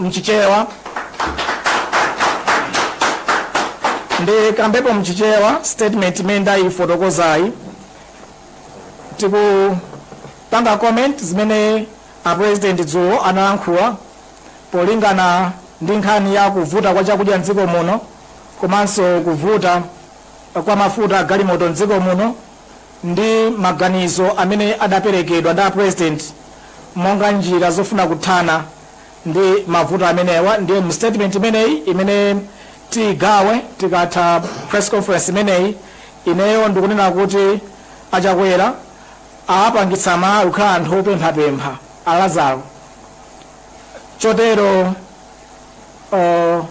mchichewa ndikambepo mchichewa statement imene ndayifotokozayi tikupanga comment zimene a president dzulo analankhula polingana ndi nkhani ya kuvuta kwa chakudya mdziko muno komanso kuvuta kwa mafuta a galimoto mdziko muno ndi maganizo amene adaperekedwa ndi a president monga njira zofuna kuthana ndi mavuto amenewa ndiye mu statement imeneyi imene tiigawe tikatha press conference imeneyi ineyo ndikunena kuti a Chakwera awapangitsa amalawi kukhala anthu opemphapempha a Lazaro chotero uh,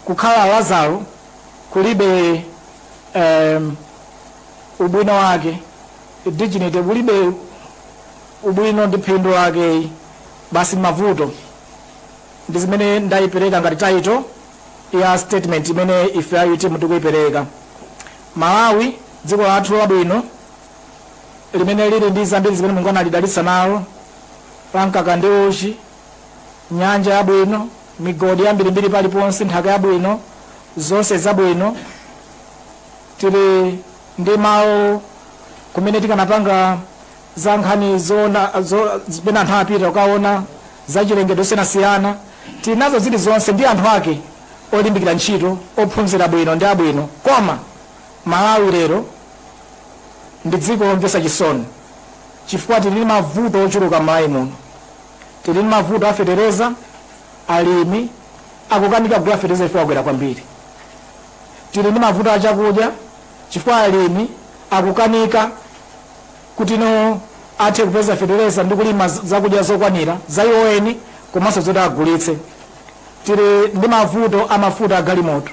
kukhala lazaro kulibe um, ubwino wake dignity kulibe ubwino ndi phindu lakeyi basi mavuto ndi zimene ndaipereka ngati title ya statement imene ife a utm tikuipereka malawi dziko lathu labwino limene lili ndi zambiri zimene mulungu analidalitsa nalo la mkaka ndi uchi nyanja yabwino migodi yambirimbiri paliponse nthaka yabwino zonse zabwino tili ndi malo kumene tikanapanga za nkhani zoona zo, zimene anthu apita kukaona za chilengedwe zosiyanasiyana tili nazo zilizonse ndi anthu ake olimbikira ntchito ophunzira bwino ndi abwino koma malawi lero ndi dziko lomvetsa chisoni chifukwa tili ndi mavuto ochuluka m'malawi muno tili ndi mavuto afetereza alimi akukanika kugula fetereza chifukwa akwera kwambiri tili ndi mavuto achakudya chifukwa alimi akukanika kuti no athe kupeza fetereza ndi kulima zakudya zokwanira za iwo eni komanso zoti agulitse. Tili ndi mavuto a mafuta a galimoto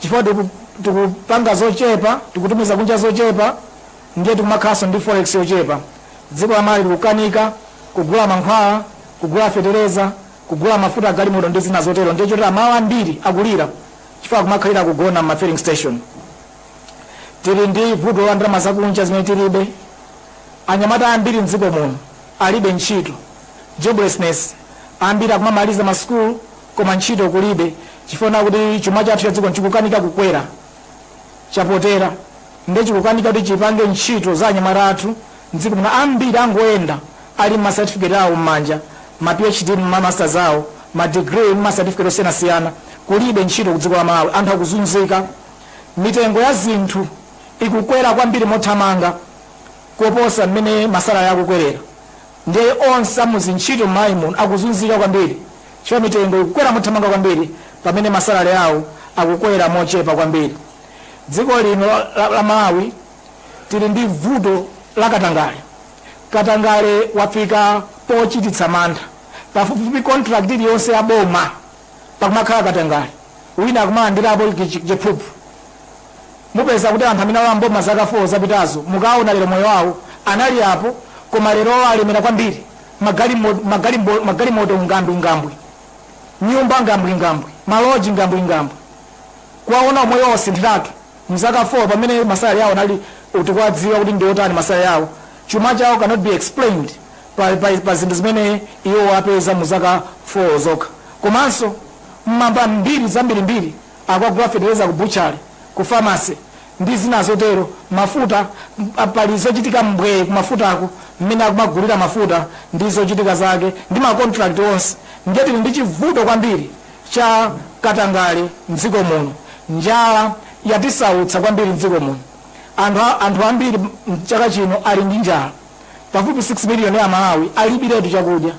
chifukwa tiku, tikupanga zochepa tikutumiza kunja zochepa ndiye tikumakhalanso ndi forex yochepa. Dziko la Malawi likukanika kugula mankhwala, kugula fetereza, kugula mafuta a galimoto ndi zina zotero ndiye choti amalawi ambiri akulira chifukwa akumakhalira kugona m'ma filling station. Tili ndi vuto la ndalama zakunja zimene tilibe. Anyamata ambiri m'dziko muno alibe ntchito, joblessness, ambiri akumamaliza masukulu koma ntchito kulibe chifukwa chakuti chuma chathu cha dziko chikukanika kukwera, chapotera nde chikukanika kuti chipange ntchito za anyamata athu m'dziko muno. Ambiri angoyenda ali ndi ma certificate awo m'manja, ma PhD, ma masters awo, ma degree ndi ma certificate osiyanasiyana, kulibe ntchito ku dziko la Malawi, anthu akuzunzika. mitengo ya zinthu ikukwera kwambiri mothamanga kuposa mmene masalary akukwelera nde onse amuzintchito mmalawi muno akuzunzika kwambiri chifukwa mitengo ikukwera mothamanga kwambiri pamene masalary awo akukwera mochepa kwambiri dziko lino la, la, la malawi tili ndi vuto la katangale katangale wafika pochititsa mantha pafupifupi contract iliyonse ya boma pakumakhala katangale wina akumalandirapo chiphuphu mupeza kuti anthu amene alowa mboma zaka 4 zapitazo mukaona lero moyo wawo anali apo koma lero alemera kwambiri magalimo- magalimo- magalimoto ngambwingambwi nyumba ngambwingambwi maloji ngambwingambwi kuwaona moyo wawo wasinthiratu mzaka 4 pamene masalary awo anali tikuwadziwa kuti ndi otani masalary awo Chuma chawo cannot be explained pa pa pa zinthu zimene iwowo apeza mu zaka 4 zokha. Komanso mmamva mbiri zambirimbiri akugula fetereza ku butchery, ku pharmacy ndi zina zotero, mafuta, pa pali zochitika mbwee ku mafutako mmene akumagulira mafuta ndi zochitika zake ndi ma contract onse. Ndiye tili ndi chivuto kwambiri cha katangale mdziko muno. Njala yatisautsa kwambiri mdziko muno. Anthu anthu ambiri mchaka chino ali ndi njala pafupi 6 million ya aMalawi alibiretu chakudya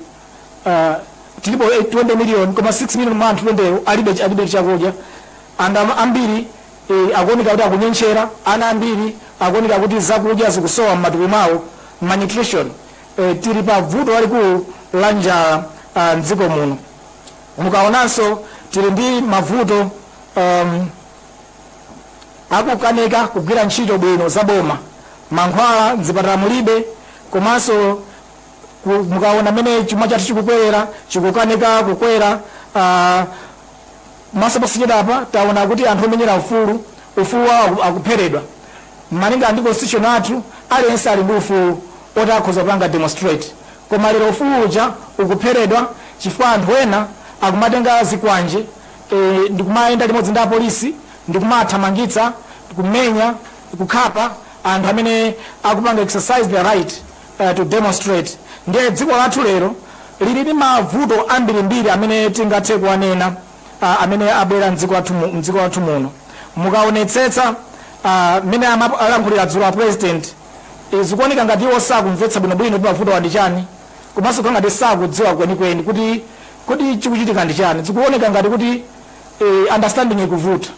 uh, tilipo 20 million koma 6 million mwa anthu 20 alibe alibe chakudya and ambiri eh, akuoneka kuti akunyentchera ana ambiri akuoneka kuti zakudya zikusowa m'matupi mwawo malnutrition eh, tili pa vuto lalikulu la njala uh, mdziko muno mukaonanso tili ndi mavuto um, akukanika kugwira ntchito bwino za boma, mankhwala mzipatala mulibe komanso ku- mukaona mmene chuma chathu chikukwerera chikukanika kukwera ah, komanso posachedwapa taona kuti anthu omenyera ufulu ufulu wawo aku- akupheredwa malinga ndi constitution yathu aliyense ali ndi ufulu oti akhoza kupanga demonstrate koma lero ufulu uja ukupheredwa chifukwa anthu ena akumatenga zikwanje e Ndikumayenda limodzi ndi apolisi ndi kumawathamangitsa, kumenya, kukhapa anthu amene akupanga exercise their right to demonstrate. Ndiye dziko lathu lero liri ndi mavuto ambirimbiri amene tingathe kuwanena amene abwera m'dziko lathu m'dziko lathu muno. Mukaonetsetsa mmene alankhulira dzulo a President, zikuoneka ngati iwo sakumvetsa bwinobwino kuti mavutowa ndi chani. komanso kukhala ngati sakudziwa kwenikweni kuti kodi chikuchitika ndi chani zikuoneka ngati kuti eh, understanding ikuvuta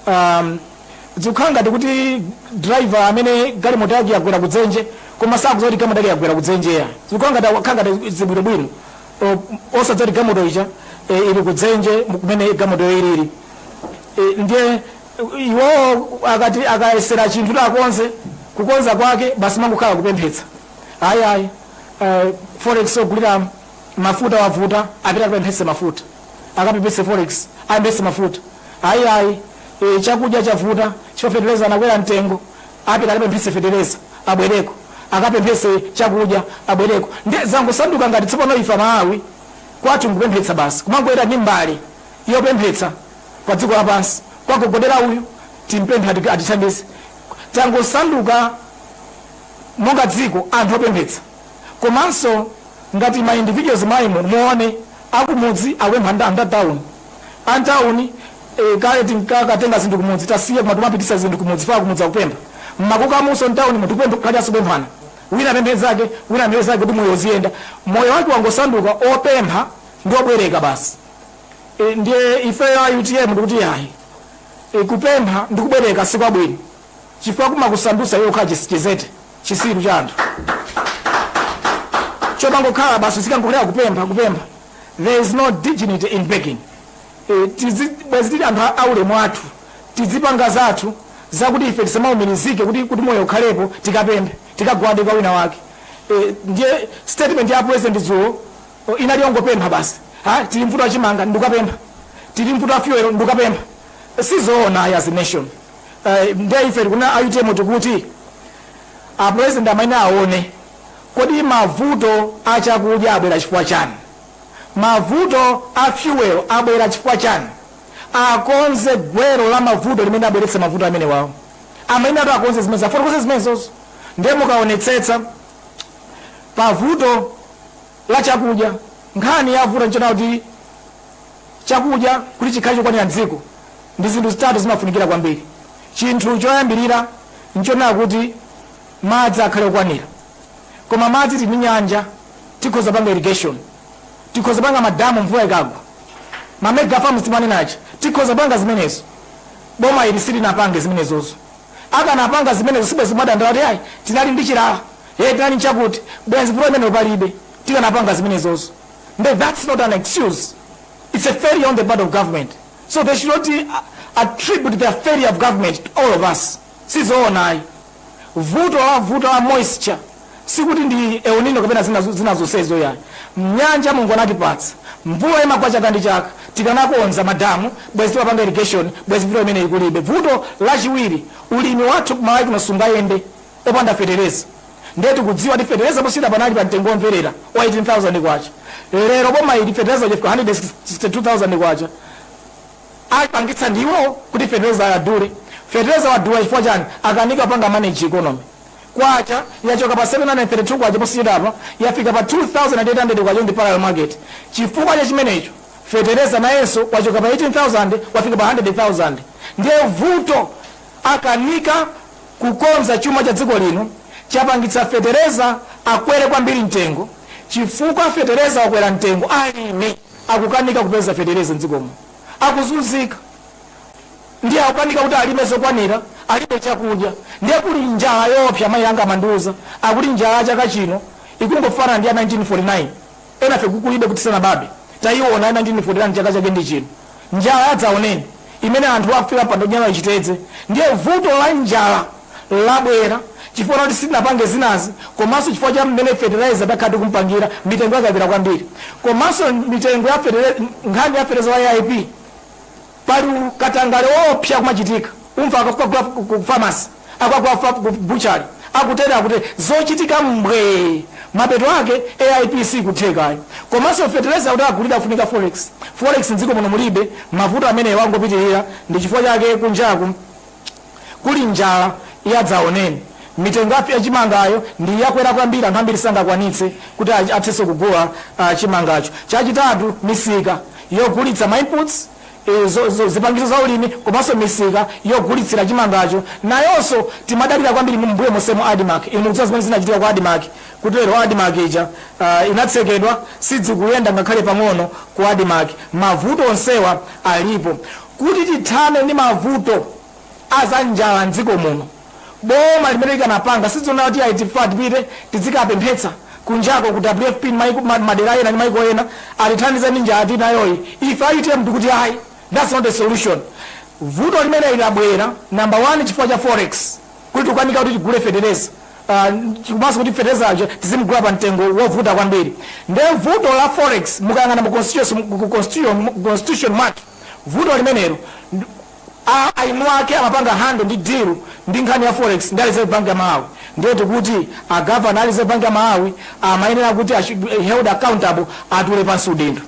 um, zikukhala ngati kuti driver amene galimoto yake yagwera kudzenje koma sakudziwa kuti galimoto yake yagwera kudzenje ya zikukhala ngati akukhala ngati zibwinobwino O- osadziwa kuti galimoto ija eh, ili kudzenje kumene galimotoyo ilili Eh, ndiye iwowo akati akayesera chinthu takonze kukonza kwake basi mangokhala kupemphetsa ayi ayi eh, forex ogulira mafuta wavuta apita akapemphetse mafuta akapemphetse forex apemphetse mafuta ayi ayi eh, chakudya chavuta chifukwa fetereza anakwera mtengo apita akapemphetse fetereza abwereko akapemphetse chakudya abwereko nde zangosanduka ngati tsopano ife amalawi kwathu nkupemphetsa basi kumangoyenda ndi mbale yopemphetsa pa dziko lapansi kwagogodera uyu timpemphe ati- atithandize tangosanduka monga dziko anthu opemphetsa komanso ngati ma individuals mwa inu muone akumudzi akupempha nda nda town a town eh, kale tinkakatenga zinthu kumudzi tasiya koma timapititsa zinthu kumudzi faa kumudzi akupempha mmakukamunso mtown mu tikupempha kukhalira zopemphana wina apemphe nzake wina apemphe nzake kuti moyo uziyenda moyo wake wangosanduka opempha ndi obwereka basi e, ndiye ifeyo a utm tikuti yayi e, kupempha ndi kubwereka sikwabwino chifukwa kumakusandutsa iwe kukhala chis- chidzete chitsiru cha anthu chomangokhala basi uzikangokhalira kupempha kupempha there is no dignity in begging Eh, tizi- bwezi tili anthu a- aulemu athu tizipanga zathu zakuti ife tisamaumirizike kuti kuti moyo ukhalepo tikapemphe tikagwade kwa wina wake Eh, ndiye statement ya president dzulo oh, inali yongopempha basi ha tili mvuto la chimanga ndikapempha tili mvuto la fuel ndikapempha sizoona ayi as a nation Eh, ndiye ife tikunena a utm tikuti a president amenewa aone kodi mavuto a chakudya abwera chifukwa chani mavuto a fuel abwera chifukwa chani akonze gwero la mavuto limene labweretsa mavuto amenewawo amene ati akonze zimene adzafotokoze zimenezozo ndiye mukaonetsetsa pavuto la chakudya nkhani yavuta nchonena kuti Chakudya kuti chikhale chokwanira m'dziko ndi zinthu zitatu zimafunikira kwambiri. Chinthu choyambirira n'chonena kuti madzi akhale okwanira. Koma madzi tili ndi nyanja, tikhoza kupanga irrigation, tikhoza kupanga madamu mvula ikagwa. Ma mega farms timanena aja, tikhoza kupanga zimenezo. Boma ili silinapange zimenezozo. Akanapanga zimenezo sibwenzi kumadandaula kuti ayi tinali ndi chilala, hey tinali n'chakuti, bwenzi vuto limenelo palibe. Tikanapanga zimenezozo. nde thats not an excuse its a failure on the part of government so they should not uh, attribute their failure of government to all of us sizoona ayi vuto la vuto la moisture sikuti ndi El Nino kapena zina zo- zina zonsezo ayi mnyanja mulungu anatipatsa mvula imagwa chaka ndi chaka tikanakonza madamu bwezi timapanga irrigation bwezi vuto imene ikulibe vuto lachiwiri ulimi wathu kumalawi kuno sungayende opanda fetereza Ndiye tikudziwa kuti fetereza posachedwapa anali pa mtengo womverera wa K18,000. Lero boma ili fetereza uja afika K162,000. Apangitsa ndi iwowo kuti fetereza adule. Fetereza wadula chifukwa chani? Akanika kupanga manage economy. Kwacha yachoka pa K732 posachedwapa yafika pa K2,800 ndi parallel market. Chifukwa cha chimenecho fetereza nayenso wachoka pa 18,000 wafika pa 100,000. Ndiye vuto akanika kukonza chuma cha dziko lino chapangitsa fetereza akwere kwambiri mtengo chifukwa fetereza wakwera mtengo alimi akukanika kupeza fetereza mdziko muno akuzunzika ndiye akukanika kuti alime zokwanira alibe chakudya ndiye kuli njala yoopsa mayi anga amandiuza akuti njala ya chaka chino ikungofanana ndi ya 1949 enafe kukulibe kuti tisanabadwe taiona ya 1949 chaka chake ndi chino njala yadzaoneni imene anthu afika pa ndodya chitedze ndiye vuto la njala labwera chifukwa choti sitinapange zinazi komanso chifukwa cha mmene fertilizer takhala tikumpangira mitengo yakwera kwambiri komanso mitengo ya fertilizer- nkhani ya fertilizer wa aip Pali katangale woopsa kumachitika. Umva akukagula ku pharmacy, akukagula ku butchery, akutere akutere. Zochitika mbwee! Mapeto ake AIP siikutheka ayi. Komanso fetereza kuti agulidwe afunika forex. Forex m'dziko muno mulibe. Mavuto amenewa angopitirira. Ndi chifukwa chake kunjaku. Kuli njala ya dzaoneni. Mitengo ya ya chimangayo ndi yakwera kwambiri, anthu ambiri sangakwanitse kuti athenso kugula chimangacho. Chachitatu, misika yogulitsa ma inputs, zipangizo za ulimi komanso misika yogulitsira chimangacho nayonso timadalira kwambiri. Mmbuyo monsemu Admarc, inu mukudziwa zimene zinachitika ku Admarc, kuti lero Admarc ija inatsekedwa, sidzikuyenda ngakhale pang'ono ku Admarc. Mavuto onsewa alipo. Kuti tithane ndi mavuto aza njala m'dziko muno, boma limene likanapanga sizoona kuti ayi tifa tipite tidzikapemphetsa kunjako ku WFP maiko madera ena ndi maiko ena atithandize ndi njala tili nayoyi, ife a utm tikuti ayi that's not a solution. Vuto limeneli labwera number one chifukwa cha forex kuti tikukanika kuti tigule fetereza komanso kuti fetereza uja tizimugula pa mtengo wovuta kwambiri nde vuto la forex mukayang'ana mu constitution mu constitution mwake vuto limenelo eni ake amapanga handle ndi deal ndi nkhani ya forex ndi a reserve bank ya malawi ndiye tikuti a governor a reserve bank ya malawi amayenera kuti a should be held accountable atule pansi udindo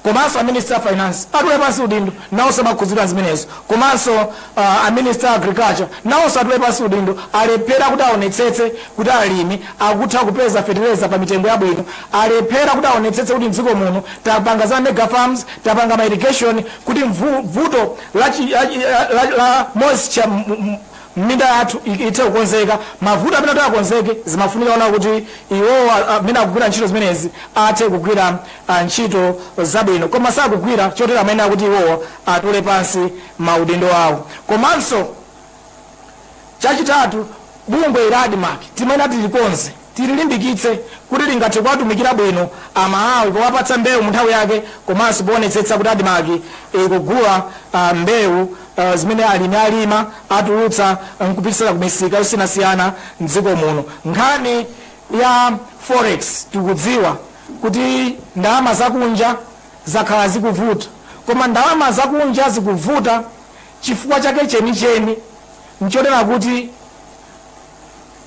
komanso a minister a finance atule pansi udindo nawonso amakhudzidwa ndi zimenezo komanso uh, a minister a agriculture nawonso atule pansi udindo alephera kuti aonetsetse kuti alimi akutha kupeza fetereza pa mitengo yabwino alephera kuti aonetsetse kuti mdziko muno tapanga za mega farms tapanga ma irrigation kuti vuto la moisture mminda yathu ithe kukonzeka. Mavuto amenewa kuti akonzeke zimafunika kuona kuti iwowo amene akugwira ntchito zimenezi athe kugwira ntchito zabwino koma sakugwira chotero amayenera kuti iwowo atule pansi maudindo awo komanso. Chachitatu, bungwe la Admarc timayenera tilikonze, tililimbikitse kuti lingathe kuwatumikira bwino Amalawi powapatsa mbewu munthawi yake komanso poonetsetsa kuti Admarc ikugula mbewu zimene alimi alima, atulutsa n'kupititsa kumisika yosiyanasiyana m'dziko muno. Nkhani ya forex tikudziwa kuti ndalama zakunja zakhala zikuvuta koma ndalama zakunja zikuvuta. Chifukwa chake chenicheni nchonena kuti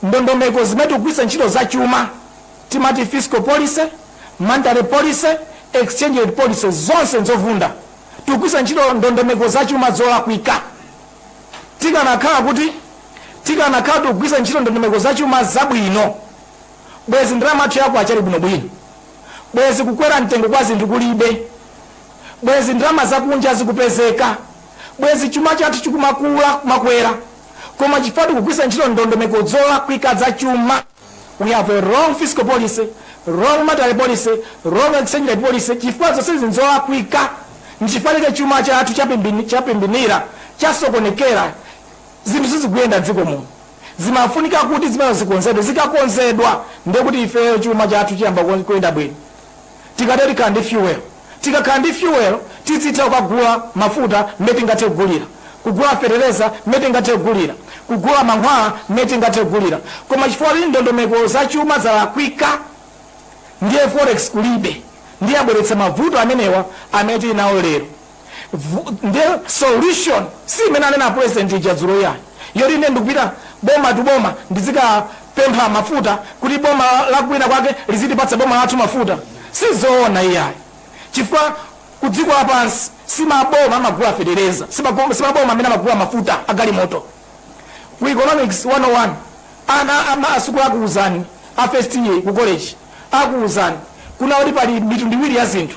ndondomeko zimene tikugwiritsa ntchito za chuma timati fiscal policy, monetary policy, exchange rate policy zonse nzovunda. Tikugwiritsa ntchito ndondomeko za chuma zolakwika. Tikanakhala kuti tikanakhala tikugwiritsa ntchito ndondomeko za chuma zabwino bwezi ndalama yathu ya kwacha ili bwinobwino, bwezi kukwera mtengo kwa zinthu kulibe. bwezi ndalama zakunja zikupezeka, bwezi chuma chathu chikumakula kumakwera, koma chifukwa tikugwiritsa ntchito ndondomeko zolakwika za chuma, we have a wrong fiscal policy, wrong monetary policy, wrong exchange rate policy, chifukwa zonsezi nzolakwika, nchifukwa chake chuma chathu chapimbini- chapimbinira, chasokonekera, zinthu sizikuyenda mdziko muno zimafunika kuti zimenezo zikonzedwe zikakonzedwa ndekuti ifeyo chuma chathu chiyamba kuyenda bwino Tikatere tikhala ndi fuel. Tikakhala ndi fuel tizitha kukagula mafuta mmene tingathe kugulira, kugula fetereza mmene tingathe kugulira, kugula mankhwala mmene tingathe kugulira. Koma chifukwa kuti ndondomeko za chuma zalakwika ndiye forex kulibe ndiye yabweretsa mavuto amenewa amene tili nawo lero. nde solution si imene anena president ija dzulo iyayi yoti ine ndikupita boma tu boma ndizikapempha mafuta kuti boma la kwina kwake lizitipatsa boma lathu mafuta sizoona iyayi chifukwa kudziko lapansi simaboma amagula fetereza simaboma amene amagula mafuta agalimoto ku economics 101 ana ama asukulu akuwuzani a first year ku college akuwuzani kunena kuti pali mitundu iwiri ya zinthu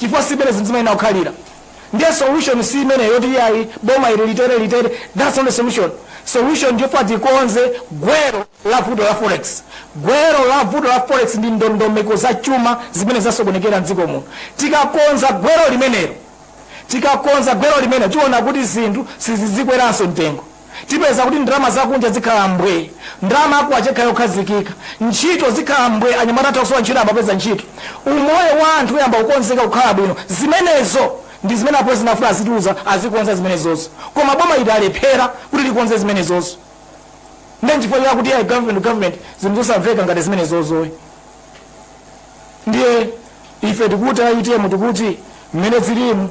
chifukwa si imene zinthu zimayenera kukhalira ndiye solution si imeneyo yoti iyayi boma ili litere that's not the solution solution ndiyofuna tikonze gwero la vuto la forex gwero la vuto la forex ndi ndondomeko za chuma zimene zasokonekera mdziko muno tikakonza gwero limenelo tikakonza gwero limenelo tiona kuti zinthu sizizikweranso mtengo Tipeza kuti ndalama zakunja zikhala mbwe, ndalama ya kwacha ikhala yokhazikika, ntchito zikhala mbwe, anyamata atha kusowa ntchito ayamba kupeza ntchito, umoyo wa anthu uyamba kukonzeka kukhala bwino. Zimenezo ndi zimene a president afuna azitiuza, azikonza zimenezozo. Koma boma iri alephera kuti likonze zimenezozo. Nde nchifukwa chake akuti ai government to government, zinthu zosamveka ngati zimenezozoyi. Ndiye ife tikuti a utm tikuti mmene zirimu,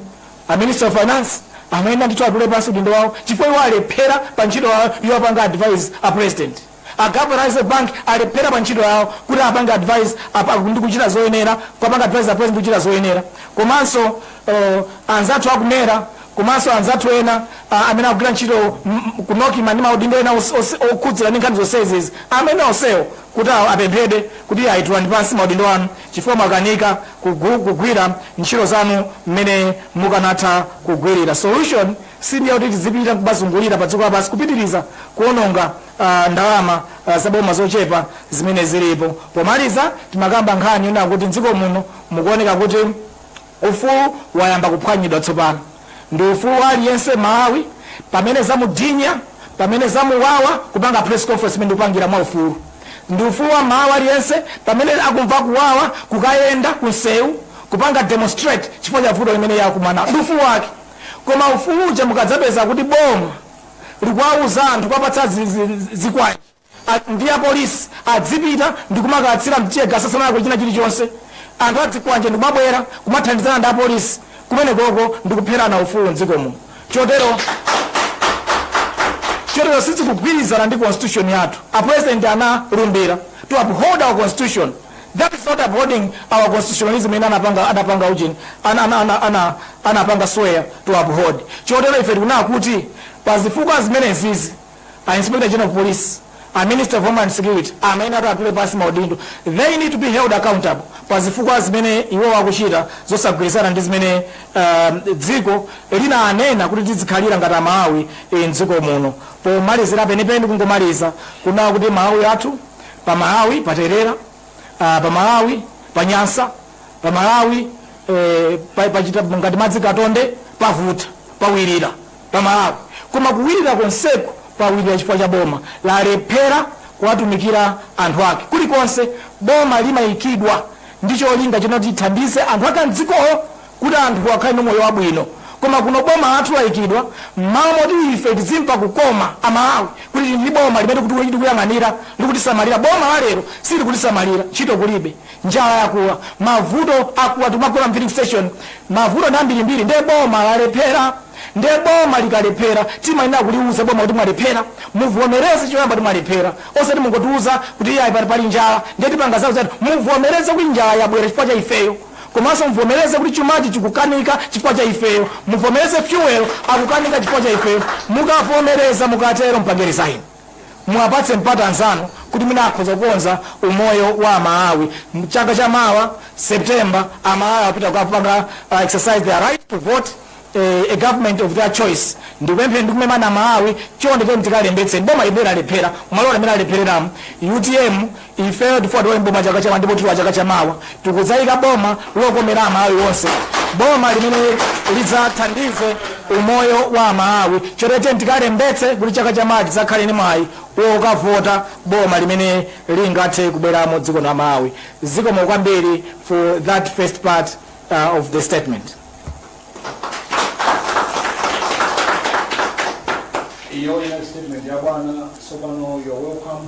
A ministry of finance amayenera ndithu atule pansi udindo wawo chifukwa iwo alephera pa ntchito yawo yowapanga advise a president. A governor a reserve bank alephera pa ntchito yawo kuti apange advise ndi kuchita zoyenera kuwapanga advise a president ndi kuchita zoyenera. Komanso uh, anzathu aku mera komanso anzathu ena uh, amene akugwira ntchito ku NOCMA ndi maudindo ena okhudzira ndi nkhani zonsezi izi amene onsewo kuti apemphedwe kuti ayi tulani pansi maudindo anu. chifukwa mwakanika kugwira ntchito zanu mmene mukanatha kugwilira. Solution si ndiya kuti tidzipita nkumazungulira pa dziko lapansi kupitiliza kuononga ndalama za boma zochepa zimene zilipo. Pomaliza timakamba nkhani yonena kuti mdziko muno mukuoneka kuti. Ufulu wayamba kuphwanyidwa tsopano. Ndi ufulu wa aliyense M'malawi. Pamene zamudinya, pamene zamuwawa, kupanga press conference imene ndikupangira mwa ufulu. Ndi ufulu wa M'malawi aliyense pamene akumva kuwawa kukayenda ku nsewu kupanga demonstrate chifukwa cha vuto limene iye akumana nalo. Ndi ufulu wake. Koma ufulu uja mukadzapeza kuti boma likuwauza anthu kuwapatsa zikwanje. a, ndi apolisi adzipita ndi kumakatsira mtegas asanalakwe china chilichonse. Anthu adzikwanje ndi kumabwera kumathandizana ndi apolisi kumenekoko ndi kupherana ufulu m'dziko muno. Chotero chotero sizikugwirizana ndi constitution yathu. A president analumbira to uphold our constitution. That is not upholding our constitutionalism imene anapanga anapanga ujeni ana ana ana ana anapanga swear to uphold. Chotero ife tikunena kuti pa zifukwa zimenezizi a inspector general of police a minister of homeland security amayenera kuti atule pansi maudindo they need to be held accountable pa zifukwa zimene iwo akuchita zosagwirizana ndi zimene um, dziko linanena kuti tizikhalira ngati amalawi eh, mdziko muno pomalizira penipeni kungomaliza kunena kuti malawi athu pa malawi paterera ah, pa malawi pa nyansa pa malawi eh, pa- pachita ngati madzi katonde pavuta pawirira pa Malawi koma kuwirira konseku kwawilira chifukwa cha boma lalephera kuwatumikira anthu ake kulikonse boma limaikidwa ndi cholinga chonoti lithandize anthu ake amdzikolo kuti anthuwo akhale ndi moyo wabwino koma kuno boma lathu laikidwa m'malo moti ife tizimva kukoma a Malawi kuti tili ndi boma limene kuti likuyang'anira likutisamalira boma la lero silikutisamalira ntchito kulibe njala yakula mavuto akula tikumagona mfilling station mavuto ndi ambirimbiri nde boma lalephera Nde boma likalephera timayenera kuliuza boma kuti mwalephera muvomereze choyamba kuti mwalephera osati mungotiuza kuti iyayi pano pali njala nde tipanga zau zati muvomereze kuti njala yabwera chifukwa cha ifeyo komanso muvomereze kuti chumachi chikukanika chifukwa cha ifeyo muvomereze fuel akukanika chifukwa cha ifeyo mukavomereza mukatero mpange resign. muwapatse mpata anzanu kuti mwina akhoza kukonza umoyo wa amalawi chaka cha mawa september amalawi apita kukapanga uh, exercise their right to vote eh, a government of their choice ndikupempheni ndikumemana amalawi chonde chonde tikalembetse boma limene lalephera mwaona limene alephereramu utm Ifeyo tifuna tilowe m'boma chaka chamawa ndipo tilowa chaka chamawa. Tikudzaika boma lokomera Amalawi onse, boma limene lidzathandize umoyo wa Amalawi. Chotero tiyeni tikalembetse kuti chaka chamawa tidzakhale ndi mwayi wokavota boma limene lingathe kubweramo dziko la Malawi. Zikomo kwambiri for that first part of the statement. Iyo inali statement ya bwana. Tsopano you are welcome.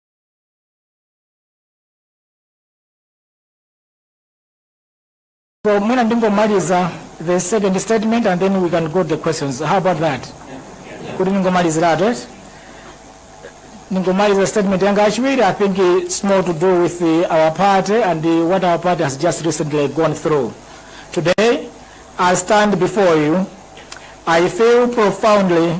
So mwina ndingomaliza the second statement and then we can go to the questions. How about that? Kuti ndingomaliziratu eti? Ndingomaliza statement yanga yachiwiri I think it's more to do with the, our party and the, what our party has just recently gone through. Today, I stand before you. I feel profoundly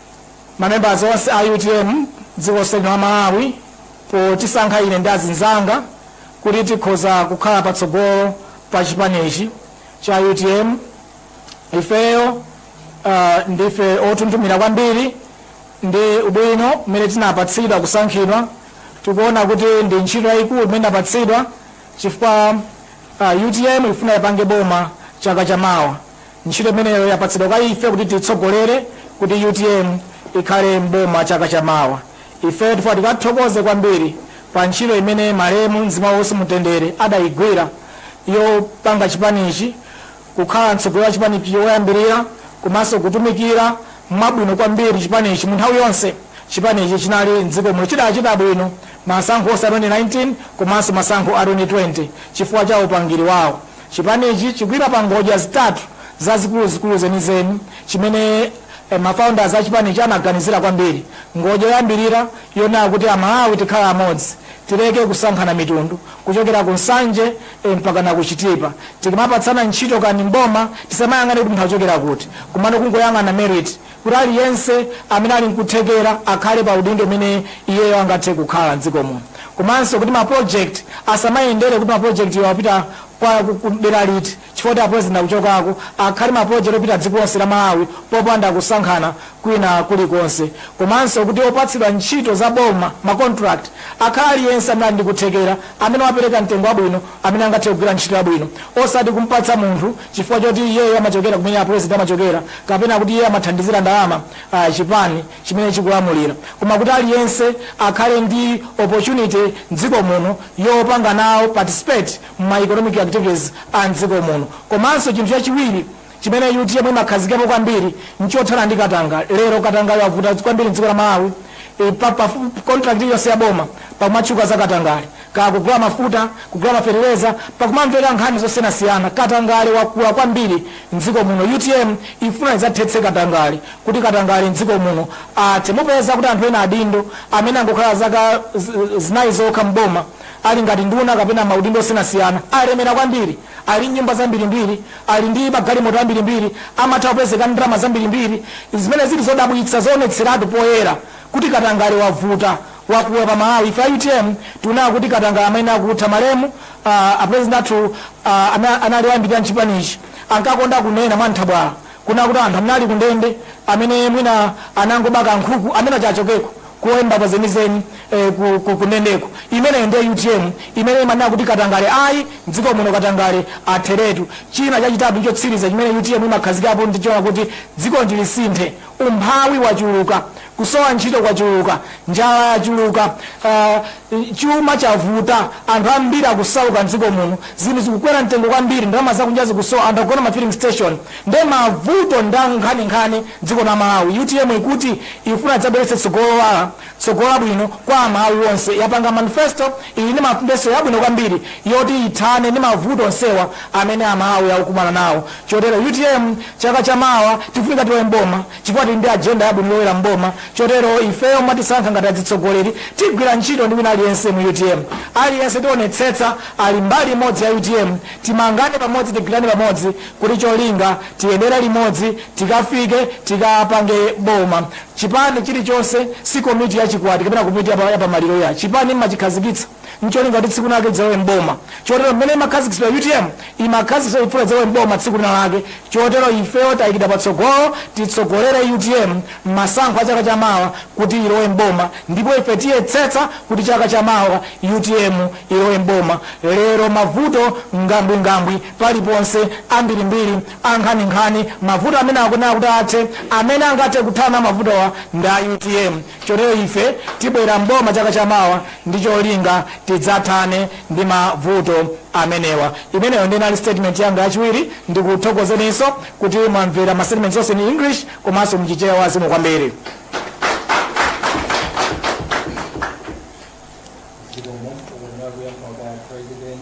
ma members onse a utm dziko lonse lino la Malawi potisankha ine ndi azinzanga kuti tikhoza kukhala patsogolo pa chipanichi cha utm. Ifeyo uh, ndife onthunthumira kwambiri ndi ubwino umene tinapatsidwa kusankhidwa. Tikuona kuti ndi ntchito yayikulu imene tinapatsidwa chifukwa uh, utm ikufuna ipange boma chaka chamawa. Ntchito imeneyo yapatsidwa kwa ife kuti tiitsogolere kuti utm ikhale m'boma chaka cha mawa. Ifeyo tifuna tikathokoze kwambiri pa ntchito imene malemu mzimu wake uuse mumtendere adaigwira yopanga chipanichi kukhala mtsogoleri wa chipanichi woyambirira komanso kutumikira mwabwino kwambiri chipanichi mu nthawi yonse chipanichi chinali m'dziko muno. Chidachita bwino masankho onse a 2019 komanso masankho a 2020 chifukwa cha upangiri wawo. Chipanichi chikuima pa ngodya zitatu zazikuluzikulu zenizeni chimene ma founders a chipanichi anaganizira kwambiri. Ngodya yoyambirira yonena kuti a Malawi tikhale amodzi, tileke kusankhana mitundu kuchokera ku Nsanje mpakana ku Chitipa. Tikamapatsana ntchito kaya ndi m'boma tisamayang'ane kuti munthu akuchokera kuti, komano kungoyang'ana merit. kuti aliyense amene ali nkuthekera akhale pa udindo umene iyeyo angathe kukhala m'dziko muno komanso kuti ma project asamayendere kuti ma project awa apita kwa ku- ku dera liti chifukwa kuti a president akuchokako akhale ma project opita dziko lonse la Malawi popanda kusankhana kwina kulikonse komanso kuti opatsidwa ntchito za boma ma contract akhale aliyense amene ali ndi kuthekera amene wapereka mtengo wabwino amene angathe kugwira ntchito yabwino osati kumpatsa munthu chifukwa choti iyeyo amachokera kumene a president amachokera kapena kuti iye amathandizira ndalama chipani chimene chikulamulira koma kuti aliyense akhale ndi opportunity mdziko muno yopanga nawo participate mma economic activities a mdziko muno komanso chinthu chachiwiri chimene utm imakhazikapo kwambiri nchothana ndi katangale katangale wavuta kwambiri mdziko la malawi e, pa, pa, contract iliyonse ya boma pakumatchuka za katangale Kaya kugula mafuta, kugula mafeteleza pakumamveka nkhani zosiyanasiyana katangale wakula kwambiri mdziko muno utm ikufuna idzathetse katangale kuti katangale mdziko muno athe mupeza kuti anthu ena adindo amene angokhala zaka zinayi zokha m'boma ali ngati nduna kapena maudindo osiyanasiyana alemera kwambiri ali nyumba zambirimbiri ali ndi magalimoto ambirimbiri amatha kupezeka ndalama zambirimbiri zimene zili zodabwitsa zoonetseratu poyera kuti katangale wavuta wakula pa Malawi ife a utm tikunena kuti katangale ayenera kutha malemu uh, apresident athu uh, ana- anali oyambirira mchipanichi ankakonda kunena mwa nthabwala kunena kuti anthu amene ali kundende amene mwina anangobako nkhuku amenewa achokeko kulowe mbava zenizeni eh, ku- ku- kundendeko imeneyo ndiye utm imene imanena kuti katangale ayi mdziko muno katangale atheretu china chachitatu chotsiriza chimene utm imakhazikapo ndichona kuti dziko lino lisinthe umphawi wachuluka Kusowa ntchito kwachuluka, njala yachuluka, chuma chavuta, anthu ambiri akusauka m'dziko muno, zinthu zikukwera mtengo kwambiri, ndalama zakunja zikusowa, anthu akugona ma filling station nde mavuto ndi ankhaninkhani m'dziko la Malawi. Utm ikuti ikufuna idzabweretse tsogolo lowala, tsogolo labwino kwa Amalawi onse. Yapanga manifesto, ili ndi manifesto yabwino kwambiri yoti ithane ndi mavuto onsewa amene Amalawi akukumana nawo. Chotero utm chaka chamawa tifunika tilowe m'boma. Chifukwa tili ndi agenda yabwino yolowera m'boma, chotero ifeyo mwatisankha ngati azitsogoleri, tigwira ntchito ndi wina aliyense mu utm. Aliyense tionetsetsa ali mbali imodzi ya utm, timangane pamodzi tigwirane pamodzi kuti cholinga tiyendere limodzi tikafike tikapange boma. Chipani chilichonse si komiti ya chikwati kapena komiti ya pa ya pamaliro iyayi. Chipani mmachikhazikitsa. ncholinga kuti tsiku linalake idzalowe m'boma chotero mmene imakhazikitsidwa utm imakhazikitsidwa chifukwa idzalowe m'boma tsiku linalake chotero ifeyo tayikidwa patsogolo titsogolere utm mmasankho a chaka cha mawa kuti ilowe m'boma ndipo ife tiyetsetsa kuti chaka cha mawa utm ilowe m'boma lero mavuto ngambwingambwi paliponse ambirimbiri ankhaninkhani mavuto amenewa kuti athe amene angathe kuthana mavutowa ndi a utm Chotero ife tibwera m'boma chaka chamawa ndi cholinga tidzathane ndi mavuto amenewa. Imeneyo ndiye inali statement yanga yachiwiri. Ndikuthokozeninso kuti mwamvera ma statements onse in English komanso mu Chichewa zikomo kwambiri. Zikomo, ukunena kuyankha kwa President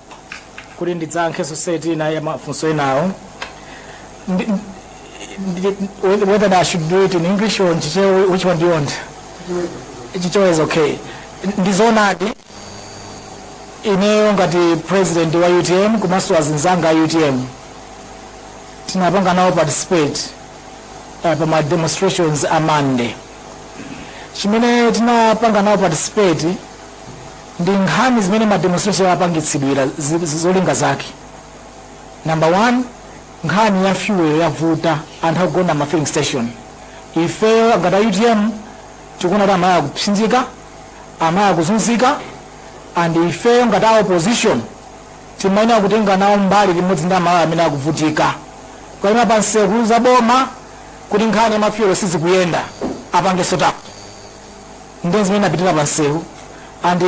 kuti ndidzayankhenso seti ina ya mafunso enawo Ndi- ndi- whether I should do it in English or in Chichewa, which one do you want? Chichewa is okay. Ndizonadi ineyo ngati president wa UTM komanso azinzanga a UTM tinapanga nawo participate uh, pa ma demonstrations a Monday chimene tinapanga nawo participate ndi nkhani zimene ma demonstration apangitsidwira zi- zi- zolinga zake number one nkhani ya fuel yavuta anthu akugona ma filling station ifeyo ngati a utm tikuona kuti amalawi akupsinjika amalawi akuzunzika and ifeyo ngati a opposition timayenera kutenga nawo mbali limodzi ndi amalawi amene akuvutika kukaima pa nsewu kuuza boma kuti nkhani ya ma fuel sizikuyenda apange sort out ndi zimene tinapitira pa msewu and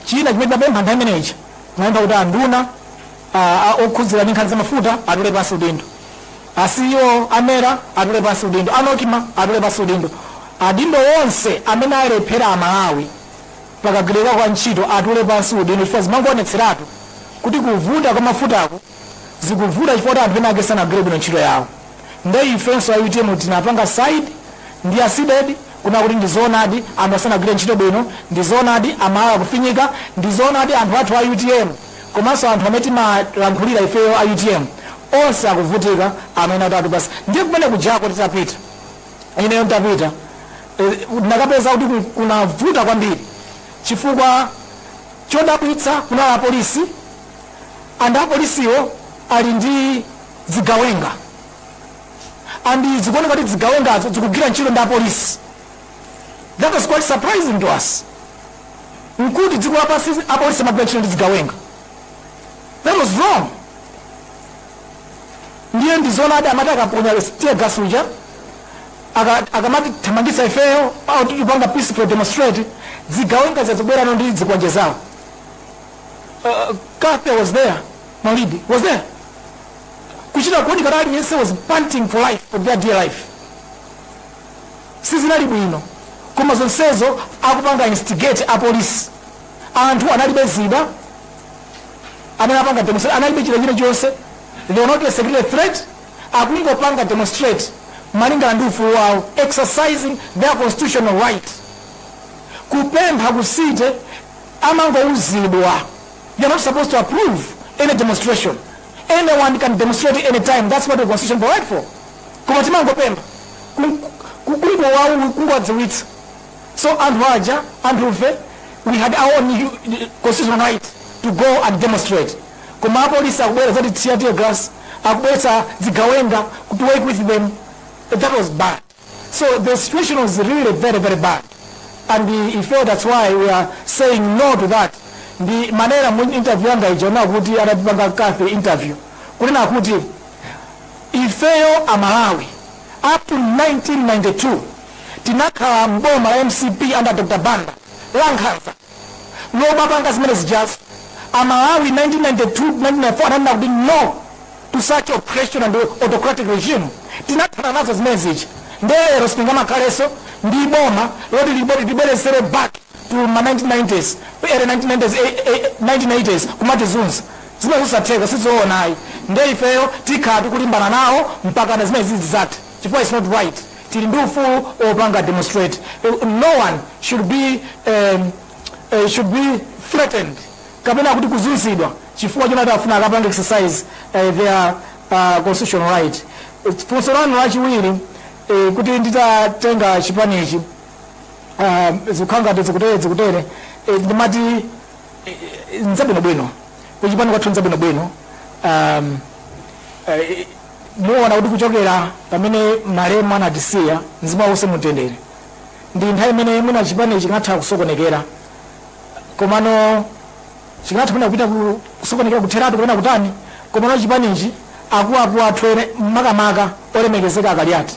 china chimene tinapempha nthawi imeneyi tinapempha kuti anduna ah, ah, okhudzidwa ndi nkhani za mafuta atule pansi udindo a ceo a mera atule pansi udindo a nocma atule pansi udindo adindo onse amene alephera amalawi pakagwirika kwa ntchito atule pansi udindo chifukwa zimangoonetseratu kuti kuvuta kwa mafutako zikuvuta chifukwa kuti anthu ena ake sanagwire bwino ntchito yawo nde ifenso a utm tinapanga side ndi a cdedi kunena kuti ndizoonadi anthuwa sanagwire ntchito bwino ndizoonadi amalawi akufinyika ndizoonadi anthu athu a utm komanso anthu amene timalankhulira ifeyo a utm onse akuvutika amene atatu basi ndiye kumene kujako titapita ineyo nditapita eh, ndinakapeza kuti ku- kunavuta kwambiri chifukwa chodabwitsa kunali apolisi and apolisiwo ali ndi zigawenga and zikuoneka kuti zigawengazo zikugwira ntchito ndi apolisi that was quite surprising to us nkuti dziko lapansi apolisi amagwira ntchito ndi zigawenga that was wrong ndiye ndizoonadi amati akaponya tear gas uja aka- akamati thamangitsa ifeyo amene tikupanga peaceful demonstrate zigawenga zazibwera ndi zikwanje zawo uh, kape was there malidi was there kuchita kuoneka kuti aliyense was panting for life for their dear life sizinali bwino koma zonsezo akupanga instigate apolisi anthu analibe zida amene apanga demonstrate analibe chida china chonse they were not a security threat akungopanga demonstrate malingana ndi ufulu wawo exercising their constitutional right kupempha kusite amangouzidwa they're not supposed to approve any demonstration anyone can demonstrate any time that's what the constitution provide for koma timangopempha kungowawu kungowadziwitsa so anthu aja anthufe we had our own hu- constitutional right to go and demonstrate koma apolisi akubwera zoti tear tear gas akubweretsa zigawenga to work with them that was bad So the situation was really very very bad and uh, ife that's why we are saying no to that ndimanena mu interview yanga ija yonena kuti anapanga kafe interview kunena kuti ifeyo amalawi up to 1992 tinakhala mboma la mcp under dr banda lankhanza lomapanga zimene zijazo a Malawi 1992, 1994 ananena kuti no to such oppression and autocratic regime tinathana nazo zimene zija nde lero sitingamakhaleso ndi boma loti litibwezeretse back to ma 1990s early 1990s, eh, eh, 1980s kumatizunza zimene zosatheka sizoona ayi nde ifeyo tikhala tikulimbana nawo mpakana zimene zizi zithe chifukwa it's not right tili ndi ufulu opanga demonstrate no one should be um, uh, should be threatened kapena kuti kuzunzidwa chifukwa choti akufuna akapange exercise uh, their uh, constitutional right funso lanu lachiwiri uh, kuti nditatenga chipanichi uh, zikukhala ngati zikutere zikutere uh, ndimati uh, nzabwinobwino kuchipani kwathu nzabwinobwino um, uh, muona kuti kuchokera pamene malemu anatisiya mzimu wake uuse mumtendere ndi nthawi imene mwina chipani chikanatha kusokonekera komanso chikanatha mwina kupita ku- kusokonekera kutheratu kapena kutani komano chipanichi akuluakulu athu ena makamaka olemekezeka akaliati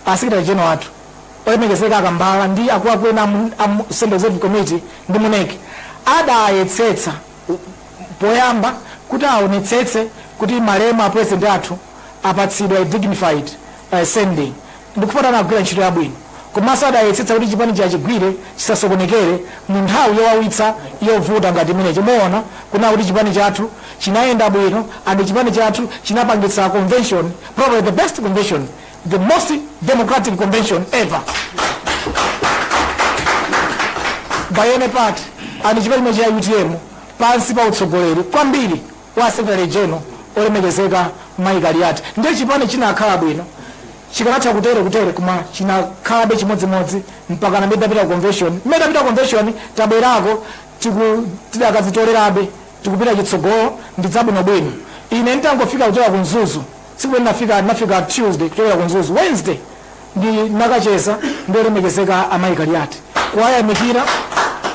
a secretary general athu olemekezeka akambala ndi akuluakulu ena amu- amu central executive committee ndi mu NEC adayetsetsa poyamba kuti awonetsetse kuti malemu a president athu apatsidwa a dignified uh, sending ndikuti anagwira ntchito yabwino komanso adayetsetsa kuti chipani achigwire chisasokonekere mu nthawi yowawitsa yovuta ngati imeneyi muona kuna kuti chipani chathu chinayenda bwino and chipani chathu chinapangitsa convention probably the best convention the most democratic convention ever by any party and chipani cha utm pansi pa utsogoleri kwambiri wa secretary general olemekezeka mai kaliati ndiye chipani chinakhala bwino chikanatha kutere kutere koma chinakhalabe chimodzimodzi mpaka na tidapita ku convention tidapita ku convention tabwerako tiku- tidakazitolerabe tikupita chitsogolo ndi zabwinobwino ine nditangofika kuchoka ku mzuzu Tsiku ndinafika, ndinafika Tuesday kuchoka ku Mzuzu. Wednesday ndinakacheza ndi olemekezeka a Mai Kaliati kuwayamikira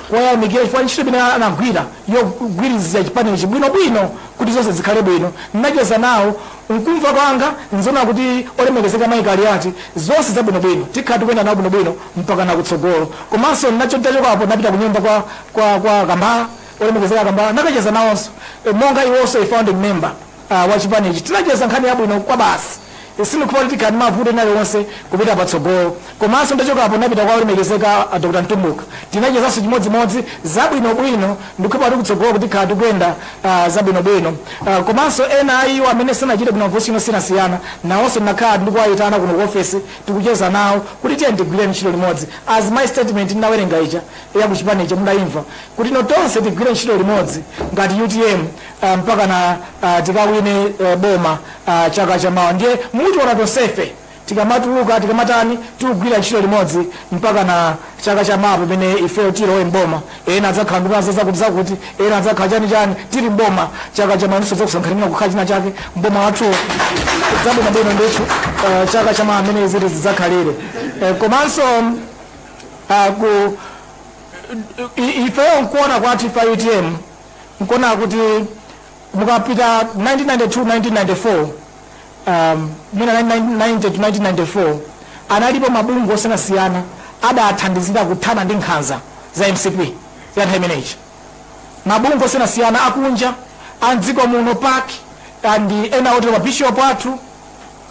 kuwayamikira chifukwa ntchito imene anagwira yogwirizira chipani ichi bwino bwino kuti zonse zikhale bwino. Ndinacheza nawo mkumva kwanga nzona kuti olemekezeka Mai Kaliati zonse zabwino bwino tikhala tikuyenda nawo bwino bwino mpaka nakutsogolo. Komanso ndinacho nditachokapo ndinapita kunyumba kwa kwa kwa Kambala olemekezeka Kambala nakacheza nawonso eh, monga iwonso a founding member. A wa chipanichi tinacheza nkhani yabwino kwabasi. Sindikukhulupirira kuti tikhala ndi mavuto ena aliwonse kupita patsogolo. Komanso nditachokapo ndinapita kwa olemekezeka a Dr. Mtumbuka. Tinachezanso chimodzimodzi zabwinobwino. Ndikukhulupirira kuti kutsogoloku tikhala tikuyenda zabwinobwino. Komanso ena a iwo amene sanachite bwino ma position osiyanasiyana nawonso ndinakhala ndikuwayitana kuno ku ofesi tikucheza nawo kuti tiyeni tigwire ntchito limodzi as my statement ndinawerenga ija ya ku chipanicho mudayimva kuti no tonse tigwire ntchito limodzi ngati utm. aah mpaka na aah tikawine aah boma aah chaka chamawa ndiye mutiona tonsefe tikamatuluka tikamatani tikugwira ntchito limodzi mpaka na chaka chamawa pamene ifeyo tilowe m'boma ena adzakhala nduna zazakuti zakuti ena adzakhala chani chani tili m'boma chaka chamawa ndinso tidzakusankhani muna kukhala china chake m'boma wathuwo zabwino bwino ndithu aah chaka chamawa amene ziti zidzakhalire Eh, komanso aah ku i- ifeyo nkuona kwathu ife utm Nkuona kuti mukapita 1992, 1994, um, mwina 1990 to 1994 analipo mabungwe osiyanasiyana adathandizira kuthana ndi nkhanza za mcp ya nthawi imeneyi mabungwe osiyanasiyana akunja a mdziko muno pac and ena otero mabishopu athu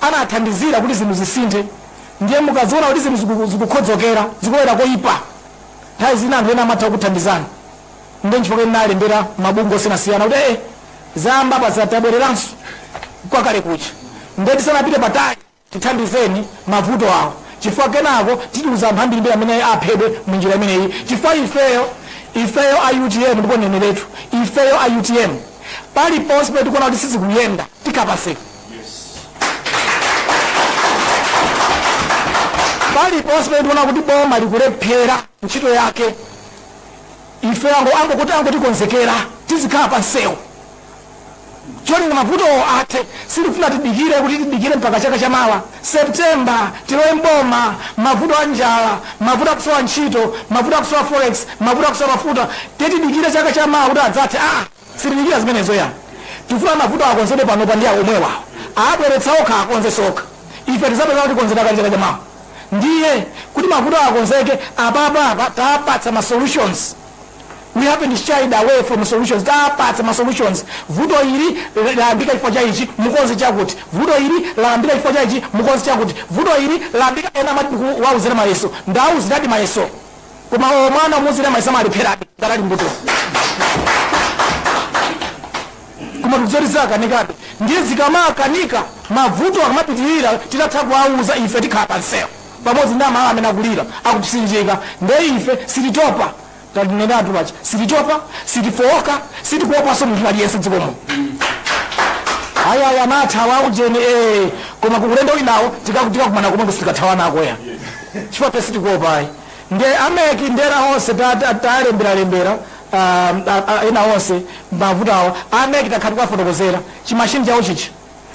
anathandizira kuti zinthu zisinthe ndiye mukaziona kuti zinthu ziku- zikukhodzokera zikubwera koyipa nthawi zina anthu ena amatha kukuthandizani Ndiye nchifukwa ndinalembera mabungwe osiyanasiyana kuti ee zayamba apa za- tabwereranso kwa kale kuja ndiye tisanapite patali tithandizeni mavuto awo chifukwa kenako titaluza anthu ambirimbiri amene aphedwe mu njira imeneyi chifukwa ifeyo ifeyo a utm ndipo ndineneretu ifeyo a utm paliponse pamene tikuona kuti sizikuyenda zikaphwasuka paliponse pamene tikuona kuti boma likulephera ntchito yake Ife angongo angotikonzekera tizikhala pa msewu cholinga mavutowo athe. Sitikufuna tidikire kuti tidikire mpaka chaka chamawa September tilowe m'boma. Mavuto a njala, mavuto a kusowa ntchito, mavuto a kusowa forex, mavuto a kusowa mafuta, tidikire chaka chamawa kuti adzathe? Aa! Sitidikira zimenezo iyayi. Tikufuna mavuto akonzedwe panopa ndi omwewa. Abweretsa okha akonzenso okha. Ife tizapeza atakonzedwa kale chaka chamawa. Ndiye kuti mavutowa akonzeke apapa apa tapatsa ma solutions. We haven't shied away from solutions. Tapatsa ma solutions. Vuto ili layambika chifukwa cha ichi, mukonze chakuti. Vuto ili layambika chifukwa cha ichi, mukonze chakuti. Vuto ili layambika ena amati ndikuwauzira mayeso. Ndawawuziradi mayeso. koma mwana umuuzira mayeso amalepherabe ngati ali mbutuma koma tikudziwa zoti zakanikabe ndiye zikamakanika mavuto akamapitirira titatha kuwauza ife tikhala pamsewu pamodzi ndi amalawi amene akulira akupsinjika ndiye ife sititopa tidanenatu paja sititopa sitifowoka sitikuopanso munthu aliyense dziko muno ayaya anathawa ujeni ee koma kukulendo wunowo tikakumana komwe sitikathawanako ya chifukwa ife sitikuopa ayi nde a mec ndi ena onse ta- ta- talemberalembera um, a- a- ena onse mavuto awa a mec takhala tikuwafotokozera chimashini chawo chichi